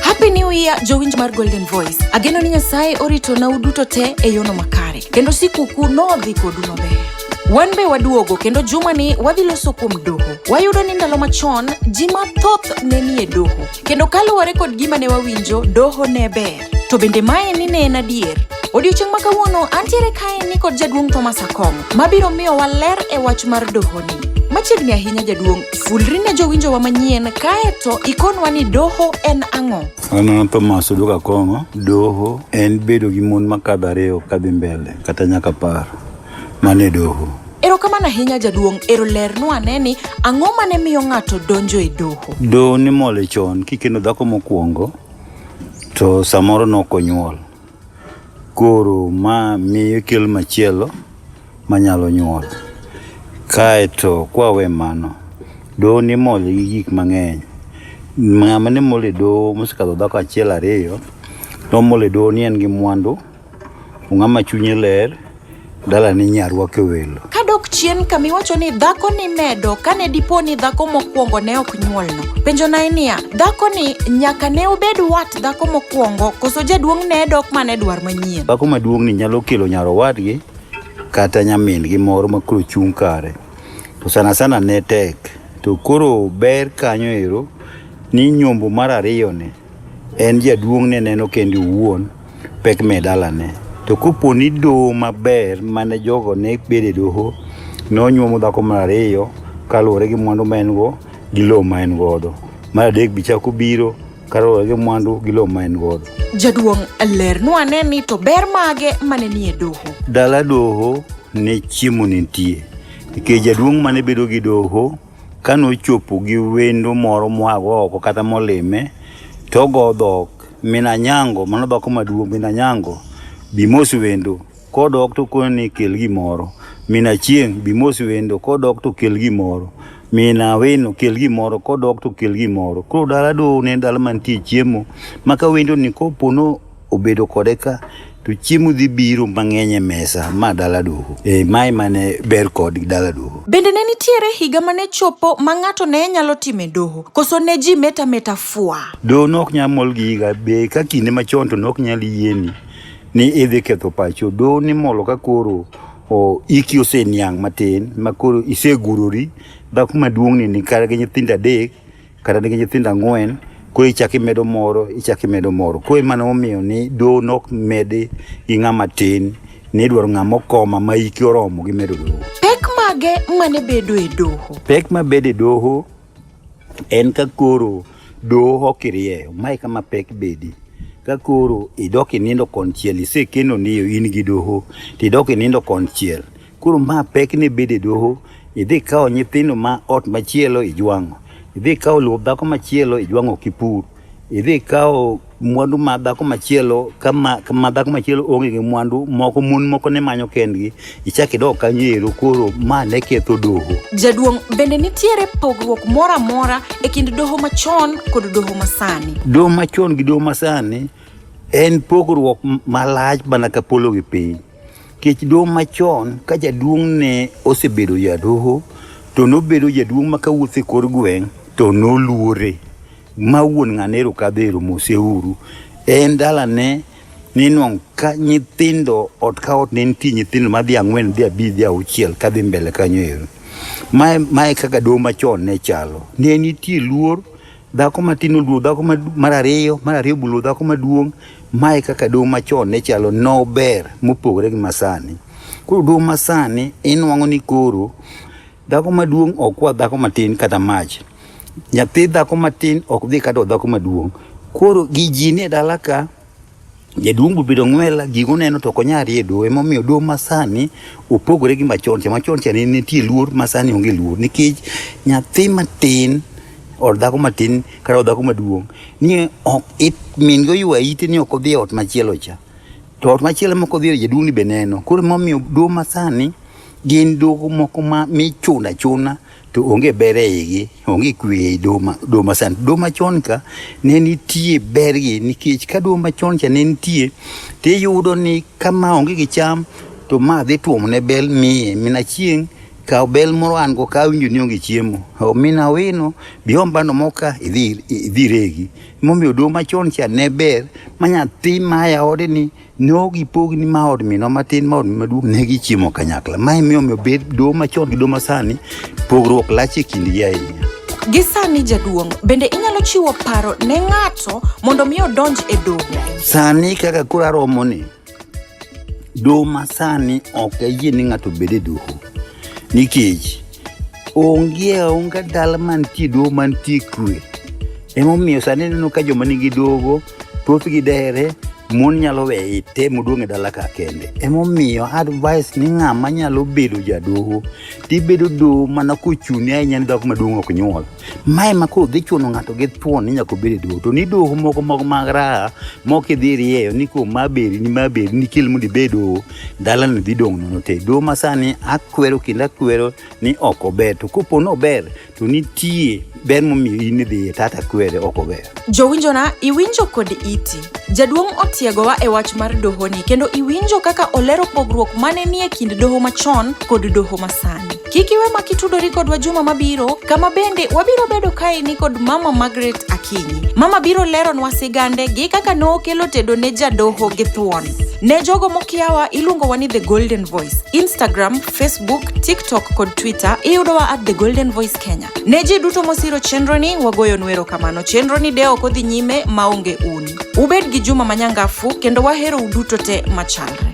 Happy New Year jowinj mar Golden Voice. Ageno ni Nyasaye orito na uduto te e yono makare kendo sikukuu nodhi kodu maber. Wan be waduogo kendo juma ni wadhi loso kuom doho. Wayudo ni ndalo machon ji mathoth ne nie doho kendo kaluwore kod gima ne wawinjo doho ne ber. To bende mae ni ne en adier? Odiochieng' ma kawuono antiere kae ni kod jaduong' Thomas Akong' mabiro miyo waler e wach mar dohoni. Machiegni ahinya jaduong', fulri ne jowinjowa manyien kae to ikonwa ni doho en ang'o? An Thomas Odok Akong'o, doho en bedo gi mon makadho ariyo kadhi mbele kata nyaka par. Mane doho. Erokamano ahinya jaduong' ero lernwa ane ni ang'o mane miyo ng'ato donjo e doho? Doho nimole chon kikendo dhako mokwongo to samoro nokonyuol. Koro ma miyo kel machielo manyalo nyuol. Kaeto kwawe mano, doho nimol gi gik mang'eny. Ng'ama nimol e doho mosekadho dhako achiel ariyo, nomol e doho ni en gi mwandu. Ung'ama chunye ler, dala ni nyarwake welo. Kadok chien kama iwacho ni dhako ni medo kane dipo ni dhako mokwongo ne ok nyuolno. Penjo nae niya, dhako ni nyaka ne obed wat dhako mokwongo koso jaduong' ne dok mane dwar manyien. Dhako maduong' ni nyalo kelo nyar owadgi kata nyamin gi moro ma koro chung' kare. To sana sana ne tek. To koro ber kanyo ero ni nyombo mar ariyo ni en jaduong' ne neno kende owuon. pek me dalane. To kopo ni doho maber mane jogo ne bede doho ne onyuomo dhako mar ariyo kaluwore gi mwandu ma en go gi lowo ma en godo, mar adek bi chako biro kaluwore gi mwandu gi lowo ma en godo. Jaduong' lernwa ane ni to ber mage mane nie doho. Dala doho ne chiemo nitie nikech jaduong' mane bedo gi doho Ka nochopo gi wendo moro moago oko kata molime, to ogo dhok min Anyango, mano dhako maduong' min Anyango, bi mos wendo. Kodok to okone ni kel gimoro. Min Achieng' bi mos wendo, kodok to kel gimoro. Min Awino kel gimoro, kodok to kel gimoro. Koro dala duto ne en dala mantie chiemo, ma ka wendoni kopo no obedo kode ka to chiemo dhi biro mang'eny e mesa ma dala doho e eh, mae mane ber kod dala doho bende ne nitiere higa mane chopo ma ng'ato ne nyalo time doho koso ne ji meta meta fwa doho ne ok nyal mol gi higa be ka kinde machon to ne ok nyal yieni ni idhi ketho pacho doho ni molo ka koro o iki oseniang' matin ma koro isegurori dhako maduong'ni ni kar gi nyithindo adek kata nigi nyithindo ang'wen koro ichak imedo moro ichak imedo moro koro emane omiyo ni doho nok medi gi ng'ama tin ni idwaro ng'ama okoma ma hike oromo gi medo doho Pek mage mane bedo e doho? pek ma bedo e doho en ka koro doho ok irieyo mae kama pek bedi ka koro idok inindo konchiel isekeno niyo in gi doho to idok inindo konchiel Koro ma pek ni bede doho, idhi kawo nyithindo ma ot machielo ijwang'o, idhi kawo luo dhako machielo ijwang'o kipur, idhi kawo mwandu ma dhako machielo kama kama dhako machielo onge gi mwandu moko mon moko ne manyo kendgi ichak idog kanyo ero koro ma ne ketho doho Jaduong', bende nitiere pogruok moro amora e kind doho machon kod doho masani? doho machon gi doho masani en pogruok m- malach mana ka polo gi piny Kech duong' machon ka jaduong' ne osebedo jadoho to nobedo jaduong' ma kawuotho e kor gweng' to noluore ma wuon ng'anero kadhero moseuru en dalane ninwang' ka nyithindo ot ka ot ne nitie nyithindo madhi ang'wen dhi abich dhi auchiel kadhi mbele kanyo ero mae mae kaka doho machon ne chalo ne nitie luor Dhako matin oluwo dhako mar ariyo, mar ariyo buluwo dhako maduong'. Mae kaka doho machon ne chalo nober mopogore gi masani. Koro doho masani inwang'o ni koro dhako maduong' ok kwa dhako matin kata mach. Nyathi dhako matin ok dhi kata dhako maduong'. Koro gi ji ni e dala ka. Jaduong' bobedo ng'wela, gigo neno to onya rie doho. Emomiyo doho masani opogore gi machon cha. Machon cha ne nitie luor, masani onge luor. Nikech nyathi matin or dhako matin kata dhako maduong' ni ok it min go ywa ite ni ok odhi e ot machielo cha. To ot machielo mok odhi jaduong' ni be neno. Koro emomiyo doho masani gin doho moko ma michuno achuna. to onge ber e igi, onge kwe ei doho ma- doho masani. Doho machon ka ne nitie bergi nikech ka doho machon cha ne nitie to iyudo ni kama onge gi cham to ma dhi tuomo ne bel miye mina chieng' kaw bel moro an go ka awinjo ni onge chiemo O, mina wino bi om bando moka idhi idhi regi. Momiyo doho machon cha ne ber ma nyathi maya ode ni ne ok gipogni ma od minwa matin ma od minwa maduong' ne gichiemo kanyakla ma emiyo omiyo bed doho machon gi doho masani pogruok lach e kindgi ahinya Gi sani jaduong', bende inyalo chiwo paro ne ng'ato mondo mi odonj e doho? sani kaka koro aromo ni doho masani ok ayie ni ng'ato bed e doho nikech onge aonga dala mantie doho mantie kwe emomiyo sani ineno ka joma nigi dogo Thothgi dere mon nyalo weye item oduong' e dala ka kende emomiyo advice ni ng'ama nyalo bedo jadoho tibedo doho mana kochuni ahinya ni dhako maduong' ok nyuol ma ema koro dhi chuno ng'ato gi thuon ni nyaka obed e doho to ni doho moko moko mag raha moko idhi irieyo ni ko ma beri ni ma beri ni kel mondo ibed doho dalani dhi dong' nono te doho masani akwero kendo akwero ni ok ober to kopo ni ober to nitie ber momiyo in idhi e tata kwere ok ober jowinjona iwinjo kod iti jaduong' otiegowa e wach mar dohoni kendo iwinjo kaka olero pogruok mane nie kind doho machon kod doho masani kik iwe ma kitudori kodwa juma mabiro kama bende wabiro bedo kaeni kod mama margaret akinyi mama biro leronwa sigande gi kaka nokelo tedo ne jadoho gi thuon ne jogo mokiawa iluongowa ni the golden voice instagram Facebook, TikTok kod Twitter iyudowa at The Golden Voice Kenya. Ne ji duto mosiro chenroni wagoyo nwero kamano. Chenroni de ok odhi nyime maonge un. Ubed gi juma manyangafu kendo wahero uduto te machalre.